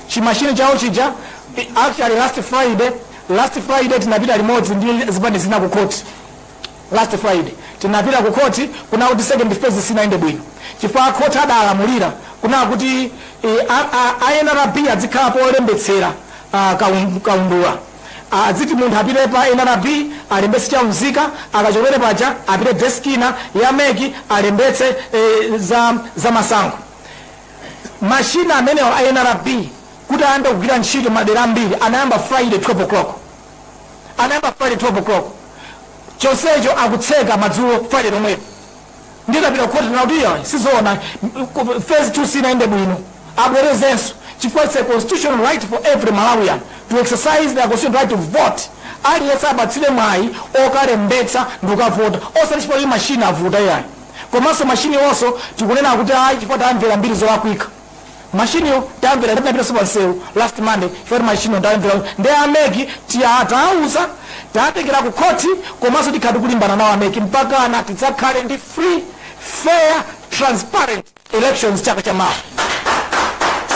chimashini chawo chija i- actually last friday last friday tinapita limodzi ndi zipani zina ku khoti last friday tinapita ku khoti kunena kuti second phase sinayende bwino chifukwa khoti adalamulira kunena kuti eh, a- a- a nrb adzikhala polembetsera ah, kaun- kaundula Aziti munthu apite pa nrb alembetse cha unzika akachokera paja apite desk ina ya mec alembetse za za masankho. Machine amenewa a nrb kuti ayambe kugwira ntchito madera ambiri anayamba friday 12 o'clock anayamba friday 12 o'clock chonsecho akutseka madzulo friday lomwelo. ndiye tapita ku khoti kunena kuti iyayi sizoona phase 2 sinayende bwino abwerezenso chifukwa it's a constitutional right for every malawian to exercise their constitutional right to vote aliyense apatsidwe mwayi okalembetsa ndikukavota osati chifukwa kuti mashini avuta iyayi komanso mashini onso tikunena kuti ayi chifukwa tamvera mbiri zolakwika machine yo tamvera tinapitaso pa msewu last monday chifukwa machine yo tamvera ndi a MEC tawauza tatengera ku khoti komanso tikhala tikulimbana nawo a MEC mpakana tidzakhale ndi free fair transparent elections chaka cha mawa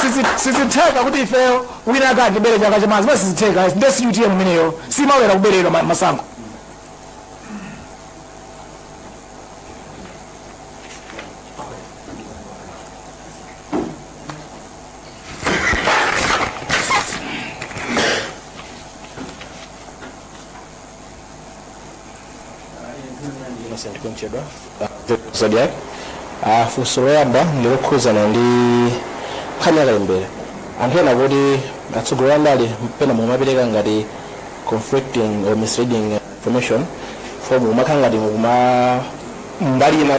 Sizi- sizitheka kuti ifeyo wina ake akatibere chaka cha mawa zimene sizitheka nde si utm imeneyo simalolera kuberedwa ma- masankho kuchedwa zodiac funso loyamba ndilokhudzana ndi nkhani yakalembera anthu ena akuti atsogoleri andale pena mukumapereka ngati conflicting or misleading information for mukumakhala ngati mukuima mbali ina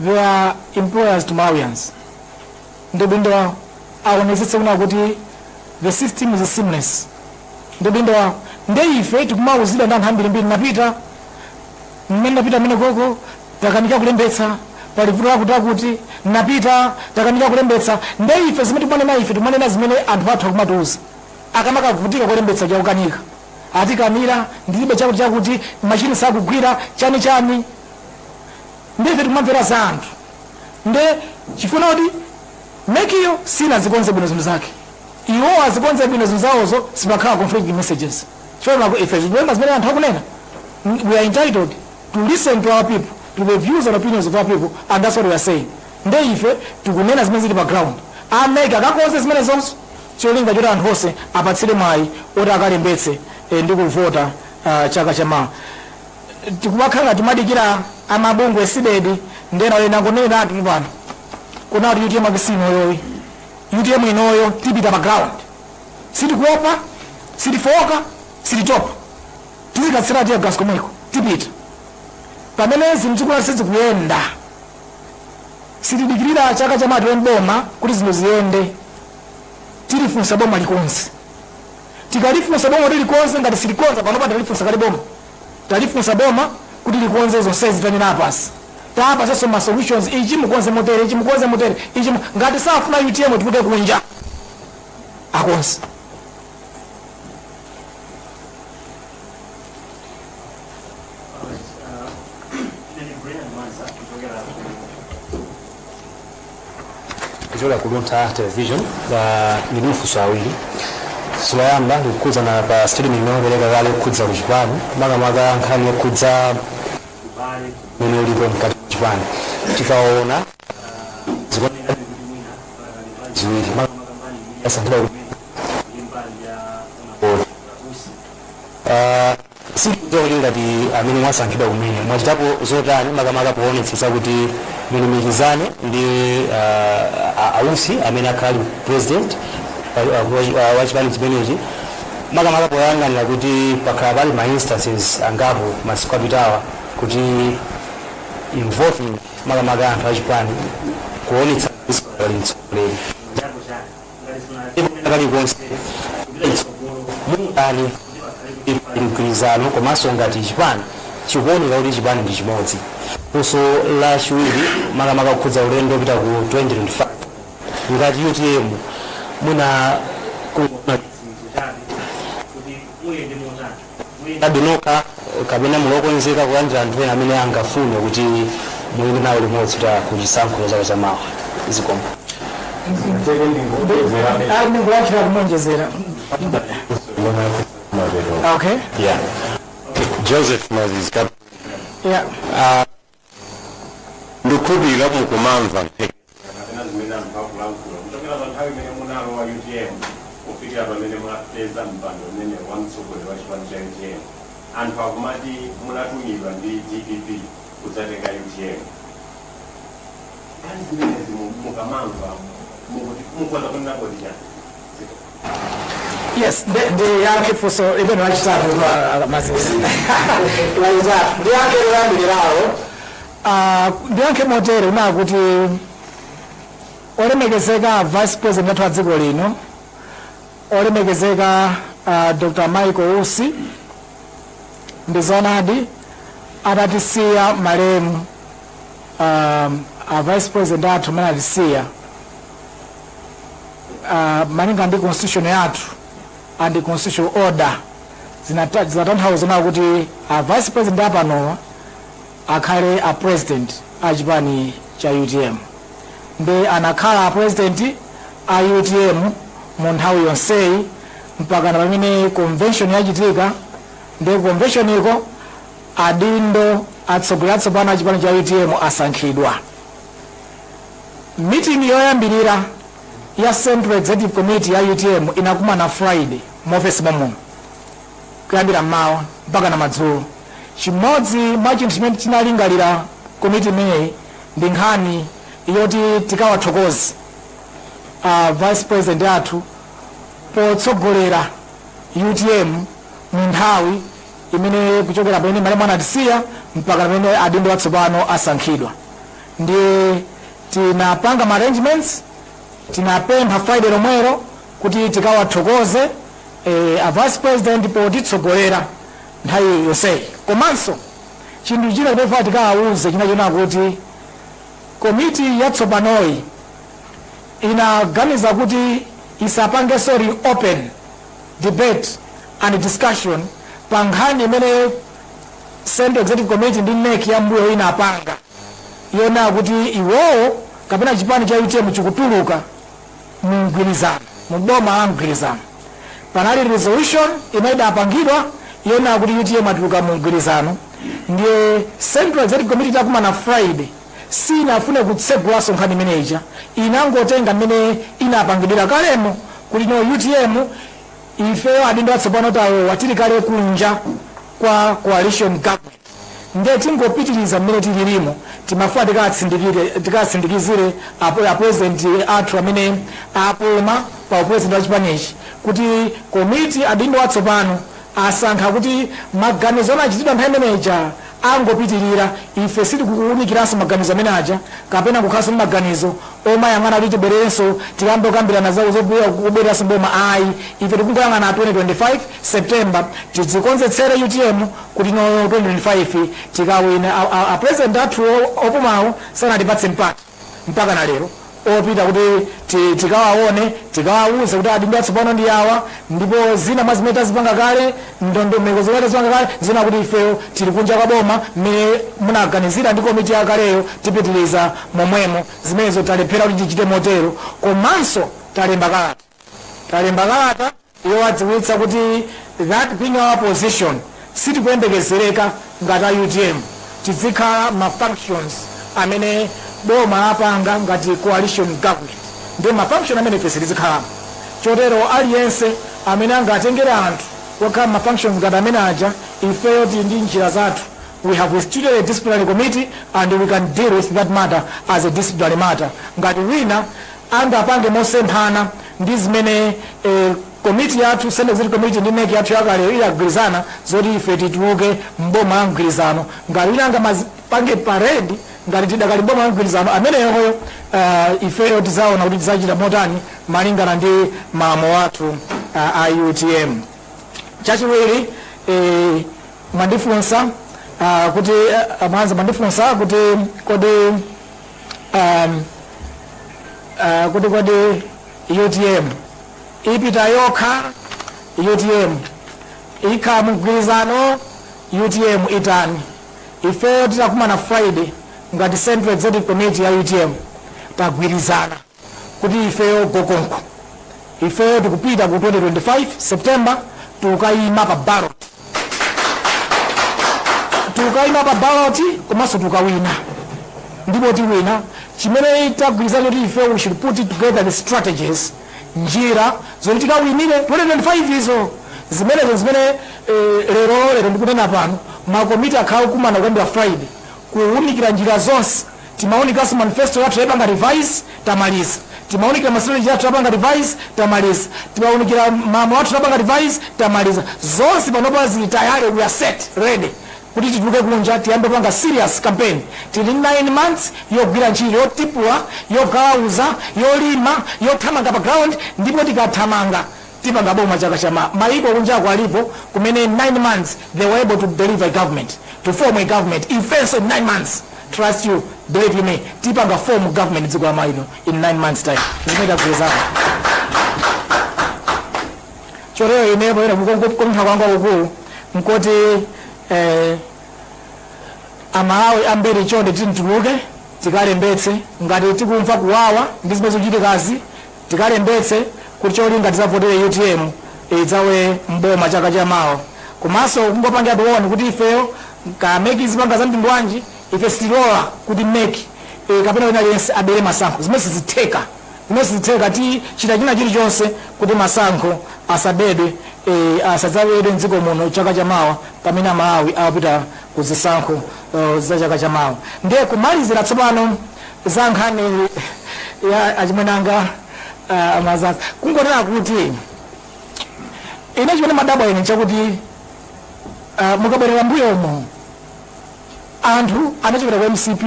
They are employers to Malawians. Ndi udindo wawo aonetsetse kunena kuti the system is seamless. Ndi udindo wawo nde ife tikumauzidwa ndi anthu ambirimbiri napita mmene napita mmene koko takanika kulembetsa pali vuto lakuti lakuti napita takanika kulembetsa nde ife zimene tikumanena ife tikumanena zimene anthu athu akumatiuza akamakavutika kulembetsa chakukanika atikanira ndilibe chakuti chakuti machini sakugwira chani chani nde ife tikumamvera za anthu nde chifukwa kuti MEC yo sinazikonze bwino zinthu zake iwo azikonze bwino zinthu zawozo sipakhala conflicting messages chifukwa ife tikunena zimene anthu akunena we are entitled to listen to our people to the views and opinions of our people and that's what we are saying nde ife tikunena zimene zili pa ground a MEC akakonze zimene zonse cholinga choti anthu onse apatsidwe mwayi oti akalembetse eh, ndi kuvota ah, chaka chamawa tikumakhala ngati timadikira amabungwe a CDEDI ndi ena ena ndingoneneratu pano kunena kuti utm yake si inoyoyi utm inoyo tipita pa ground sitikuopa sitifoka sititopa tizikatsira tear gas komweko tipita pamene zinthu zikukhala kuti sizikuyenda sitidikirira chaka cha mawa tiwine boma kuti zinthu ziyende tilifunsa boma likonze Tikalifunsa boma kuti likonze ngati silikonza panopa talifunsa kale boma talifunsa boma kuti likonze zonsezi tanena apa si tawapatsaso ma solutions ichi mukonze motere ichi mukonze motere ichi mu- ngati safuna utm ituluke kunja akonze Kuchokera ku Luntha Television ndili ndi mafunso awiri. Funso loyamba likukhudzana pa statement imene mwapereka kale yokhudza ku chipani makamaka nkhani yokhudza ubale umene ulipo mkati mwa chipani tikaona zikuoneka kuti mwina pakali mbali ziwiri makamaka mbali imene yasankhidwa kuti ndi mbali ya Honorable Usi. Ah, Sindikudziwa kuti ngati amene mwasankhidwa kumene mwachitapo zotani makamaka poonetsetsa kuti mulumikizane ndi uh, a Usi amene akhala ali president pa- uh, wa- wa- wa chipani chimenechi makamaka poyang'anira kuti pakhala pali ma instances angapo masiku apitawa kuti involving makamaka anthu achipani kuonetsa kuti sikali mtsogoleri kalikonse mungani pali mgwirizano komanso ngati chipani chikuoneka kuti chipani ndi chimodzi funso la chiwiri makamaka kukhudza ulendo opita ku 2025 ngati utm muna kuyendadi nokha kapena muli okonzeka kulandira anthu ena amene angafune kuti muyende nawo limodzi kuti kuchisankho chaka cha mawa zikomo ndikulankhira kuwonjezera okay Yeah. Joseph Mazizi, Cap- yeah. uh, ndikukhulupirira mukumamva nkhani kapena zimene anthu akulankhula kuchokera pa nthawi imene munalowa utm kufikira pamene mwapeza mpando umene wa mtsogoleri wa chipani cha utm anthu akumati munatumidwa ndi dpp kudzatenga utm nkhani zimenezi mu- mukamamva mukuti- mukuona kuti nabodira Yes, ndi ndiyankhe funso limene lachitatu kwa Mazizi. Lachitatu. Ndiyankhe loyambiriralo. Ah, ndiyankhe motere kunena kuti olemekezeka vice president athu a dziko lino olemekezeka ah, Dr. Michael Usi ndi zonadi atatisiya malemu um, a vice president athu amene atisiya uh, malinga ndi constitution yathu and constitutional order zinata- zinatanthauza kunena kuti a vice president apanowa akhale a president a chipani cha utm nde anakhala a president a utm mu nthawi yonseyi mpaka na pamene convention yachitika nde convention iko Adindo atsogoleri atsopano a chipani cha utm asankhidwa Meeting yoyambirira ya Central Executive Committee ya utm inakumana Friday mu ofesi mommuno kuyambira mmawa mpakana madzulo. Chimodzi mwa chinthu chimene chinalingalira komiti imeneyi ndi nkhani yoti tikawathokoze a Vice President athu potsogolera utm mu nthawi imene kuchokera pamene malemu anatisiya mpaka pamene adindo atsopano asankhidwa ndiye tinapanga ma arrangements tinapempha friday lomwero kuti tikawathokoze eh, a vice president potitsogolera nthawi yonseyi komanso chinthu china timafuna tikawawuze china chonena kuti komiti yatsopanoyi inaganiza kuti isapangenso reopen debate and discussion pa nkhani imene Central Executive Committee ndi NEC ya mbuyo inapanga yonena kuti iwowo kapena chipani cha UTM chikutuluka mu mgwirizano mu boma la mgwirizano. Panali resolution imene idapangidwa yonena kuti UTM atuluka mu mgwirizano ndiye Central Executive Committee itakumana Friday siinafune kutsegulanso nkhani imene ija, inangotenga mmene inapangidwira kalemo kuti no utm ifeyo adindo atsopano talowa tili kale kunja kwa coalition government nde tingopitiliza mmene tililimo, timafuna tikaatsindikizire a president athu amene apuma pa u president wa chipanichi kuti komiti adindo atsopano asankha kuti maganizo anachitidwa nthawi imene ija angopitirira, ife sitikuwunikiranso maganizo amene aja, kapena kukhalanso ndi maganizo omayang'ana kuti tibwererenso, tikayambe kukambirana za, za kubwereranso m'boma ayi. Ife tikungoyang'ana 2025, September, tidzikonzetsere utm kuti no 2025 tikawine. A, a, a President athuwo opumawo sanatipatse mpata. mpakana lero opita kuti ti, tikawaone tikawauze kuti adindo atsopano ndi awa ndipo zina mwa zimene tazipanga kale ndondomeko zimene tazipanga kale nzonena kuti ifeyo tili kunja kwa boma mmene munaganizira ndi komiti yakaleyo tipitiriza momwemo zimenezo talephera kuti tichite motero komanso talemba kalata talemba kalata yowadziwitsa kuti that being our position sitikuyembekezereka ngati a utm tidzikhala mma functions amene boma lapanga ngati coalition government ndi ma function amene ife sitizikhalamo chotero aliyense amene angatengere anthu kukakhala mma functions ngati amene aja ifeyo tili ndi njira zathu we have instituted a disciplinary committee and we can deal with that matter as a disciplinary matter ngati wina angapange mosemphana ndi zimene komiti yathu, Central Executive Committee, ndi NEC yathu yakaleyo idagwirizana zoti ife tituluke m'boma la mgwirizano. Ngati wina angapange parade ngati tidakali m'boma la mgwirizano, ameneyoyo ifeyo tidzaona kuti tidzachita motani malingana ndi malamulo athu a utm. Chachiwiri, mwandifunsa kuti a Mwanza mwandifunsa kuti kodi. um, uh, kuti kodi utm ipita yokha utm ikhala mgwirizano utm itani ifeyo titakumana friday ngati central executive committee ya utm tagwirizana kuti ifeyo go konko ifeyo tikupita ku 2025 september tikukayima pa ballot tikukayima pa ballot komanso tikawina ndipo tiwina chimene tagwirizana kuti ife we should put together the strategies njira zoti tikawinire 2025 izo zimenezo zimene eh, lero lero ndikunena pano makomiti akhala akukumana kuyambira friday kuwunikira njira zonse Timaunikanso manifesto yathu taipanga revise tamaliza, timaunikira ma strategy athu tapanga revise tamaliza, timaunikira malamulo athu tapanga revise tamaliza, zonse panopa zili tayari we are set ready kuti tituluke kunja tiyambe kupanga serious campaign. Tili ndi 9 months yogwira ntchito, yotipula, yogalawuza, yolima, yothamanga pa ground ndipo tikathamanga. tipanga boma chaka cha mawa, mayiko kunjako alipo kumene in 9 months they were able to deliver a government to form a government ifenso in 9 months trust you believe you me tipanga form government dziko la Malawi lino in 9 months time zimene tagwirizana chotero ine poyera kupempha kwanga kwakukulu nkoti eh, amalawi ambiri chonde tituluke tikalembetse ngati tikumva kuwawa ndi zimene zikuchitikazi Tikalembetse kuti cholinga tizavotere utm idzalowe m'boma chaka cha mawa komanso kungopanga mention kuti ifeyo kaya mec izipanga za mtundu wanji ife sitilola kuti mec kapena wina aliyense abere masankho zimene sizitheka zimene sizitheka tichita china chilichonse kuti masankho asabedwe eh, asadzabedwe mdziko muno chaka cha mawa pamene amalawi akupita ku zisankho eh, za chaka cha mawa ndiye kumalizira tsopano za nkhani ya achimwene anga uh, a Msaka kungonena kuti ine chimene ndimadabwa ine n'chakuti uh, mukabwerera mbuyomo anthu anachokera ku mcp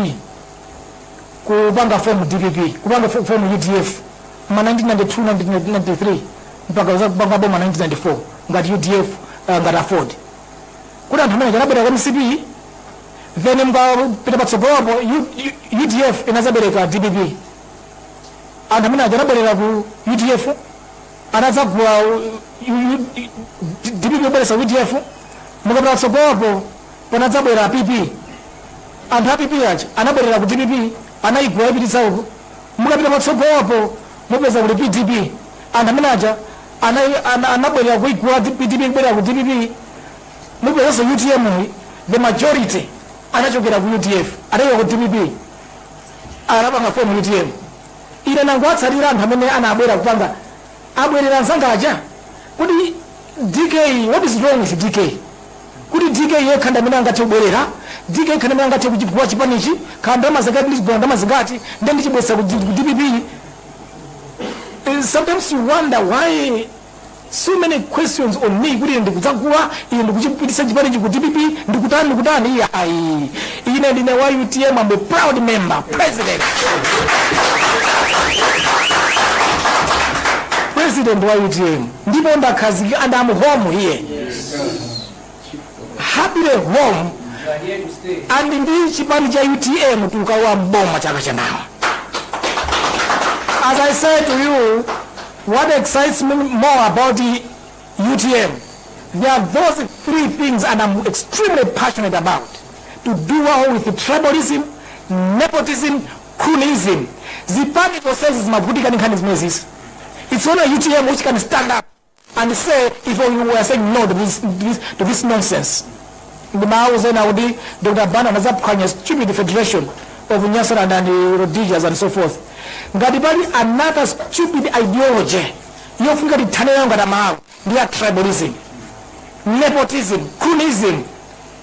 kupanga form dpp kupanga fo- form udf ma 1992 1993 mpaka kupanga boma 1994 ngati udf uh, ngati aford kuti anthu amene aja anabwera ku mcp then mukapita patsogolopo U- U- udf inazabereka dpp anthu amene aja anabwerera ku udf anadzagula dpp bweresa udf mukapita patsogolopo panadzabwera pp anthu a pp aja anabwerera ku dpp anayigula ipititsa uko mukapita patsogolopo mupeza kuti pdp anthu amene aja Ana, ana, anabwerera kuigula pdp kubwerera ku dpp mupezanso utm the majority anachokera ku udf atachokera ku dpp anapanga form utm ine nangowatsalira anthu amene anabwera kupanga abwerera anzanga aja kuti dk what is wrong with dk kuti dk yekha ndi amene angathe kubwerera dk yekha ndi amene angathe kuchigula chipanichi kaya ndalama zingati ndizigula ndalama zingati ndiye ndichibwesa ku D- ku dpp And sometimes you wonder why so many questions on me kuti ine ndikudzagula ine ndikuchipitisa chipanichi ku dpp ndikutani ndikutani iye ayi ine ndine wa utm i'm a proud member president president wa utm ndipo ndakhazikika and i'm home here happily home and ndi chipani cha utm tukalowa mboma chaka chamawa as i said to you what excites me more about the utm there are those three things and i'm extremely passionate about to do away with tribalism nepotism cronyism zipani zonsezi zimavutika ndi nkhani zimenezi it's only utm which can stand up and say we are saying no to this, this, to this nonsense ndimawauza ena kuti dr banda anazaphwanya stupid federation of nyasaland and rhodesia and so forth ngati pali another stupid ideology yofunika tithane nayo ngati amalawi ndi ya tribalism nepotism cronyism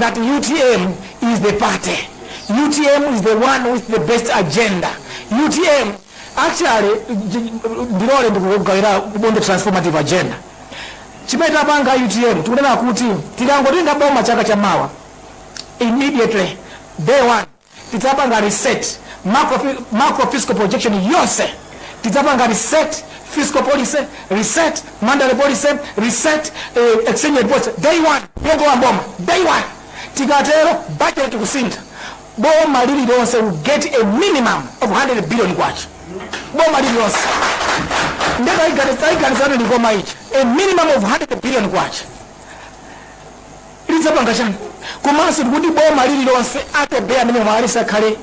that utm is the party utm is the one with the best agenda utm actually j- ndilole ndikugawire buku la transformative agenda chimene tapanga utm tikunena kuti tikangotenga boma chaka cha mawa immediately day one tidzapanga reset macro, macro fiscal projection yonse tidzapanga reset fiscal policy reset monetary policy reset eh, exchange rate policy day one yolowa boma day one tikatero budget kusintha boma lililonse will get a minimum of 100 billion kwacha boma lililonse ndiye kaya chizaneneka mboma ichi a minimum of 100 billion kwacha lidzapanga chani komanso tikuti boma lililonse atobey amene mwalesa khale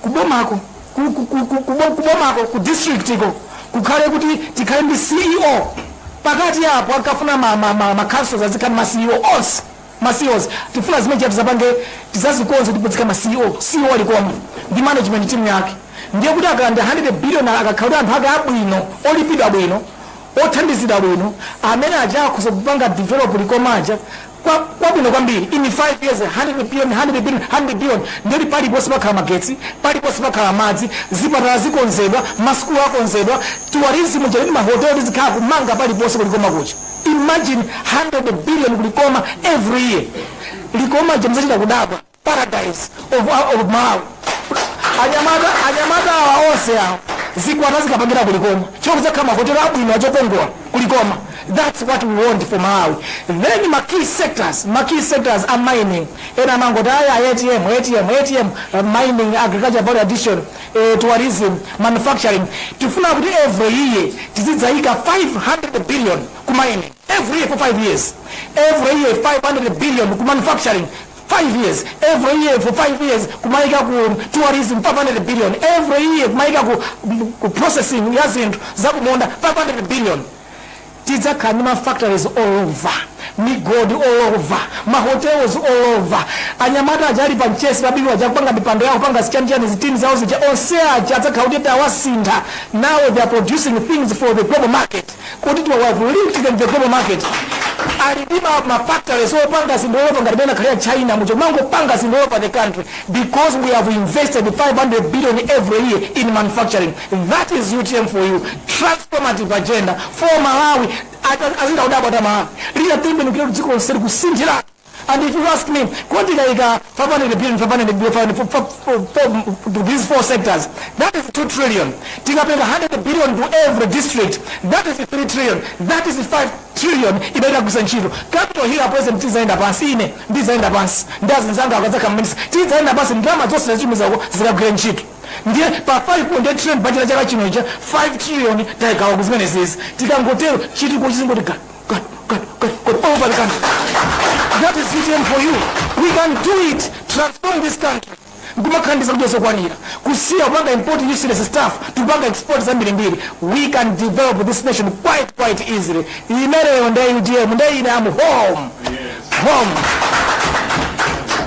kubomako ku- ku- ku- ku- kubo- kubomako ku district ko kukhale kuti tikhale ndi ceo pakati apo akafuna ma- ma- ma- ma councils azikhala ndi ma ceo onse ma ceos tifuna zimenezi tizapange tizazikonze tikudzaika ma ceo ceo wa likoma ndi management team yake ndiye kuti akalandira 100 billion akakhala kuti anthu ake abwino olipidwa bwino othandizidwa bwino amene aja akhoza kupanga develop likoma aja kwabwino kwambiri in 5 years 100 billion 100 billion 100 billion ndiye kuti paliponse pakhala magetsi paliponse pakhala madzi zipatala zikonzedwa masukulu akonzedwa tourism ujeni mahotelo tizikhala kumanga paliponse kulikoma kuja imagine 100 billion kulikoma every year likoma lija muzachita kudabwa paradise of, of malawi anyamata anyamata awa onse awa zikwati azikapangira kulikoma chifukwa kudzakhala mahotelo abwino achokongola kulikoma that's what we want for malawi then ma key sectors ma key sectors a mining ena amangoti aya atm atm atm uh, mining agriculture value addition eh, tourism manufacturing tifuna kuti every year tizidzayika 500 billion ku mining every year for 5 years every year 500 billion ku manufacturing 5 years every year for 5 years kumaika ku tourism 500 billion every year kumaika ku, ku processing ya zinthu zakumunda 500 billion tidzakhala ndi mafactories all over migodi all over mahotels all over anyamata aja ali pamchesi pabiwi aja akupanga mipando yawo kupanga zichanichani zitini zawo zija onse aja adzakhala kuti tawasintha now they are producing things for the global market kuti tawa we have linked them to the global market ali ndi ma, ma factories opanga zinthu all over ngati mmene akhalira china muja amangopanga zinthu all over the country because we have invested 500 billion every year in manufacturing that is utm for you transformative agenda for malawi Ata- azichita kudabwa ta malawi litatembenukira kuti dziko lonse likusinthira And if you ask me, kuti tikaika 500 billion, 500 billion, 500, for, for, for, for, to these four sectors, that is 2 trillion. Tikapereka 100 billion to every district, that is 3 trillion. That is 5 trillion ibaita kusa ntchito. Capital hill a president tizaenda pansi ine, ndizaenda pansi. Ndi azinzanga akazakhala minister, tizaenda pansi ndalama zonse zachimiza uko zikagwire ntchito. ndiye pa 5.8 trillion budget ya chaka chino icha 5 trillion taigawa kuzimenezizi tikangotero chitukuko chizingotiga God, God, God, God, over the country. That is VTM for you. We can do it. Transform this country. kumakhandiza kuti zokwanira kusiya kupanga import useless stuff tupanga export zambirimbiri we can develop this nation quite quite easily imeneyo nde utm nde ine am home home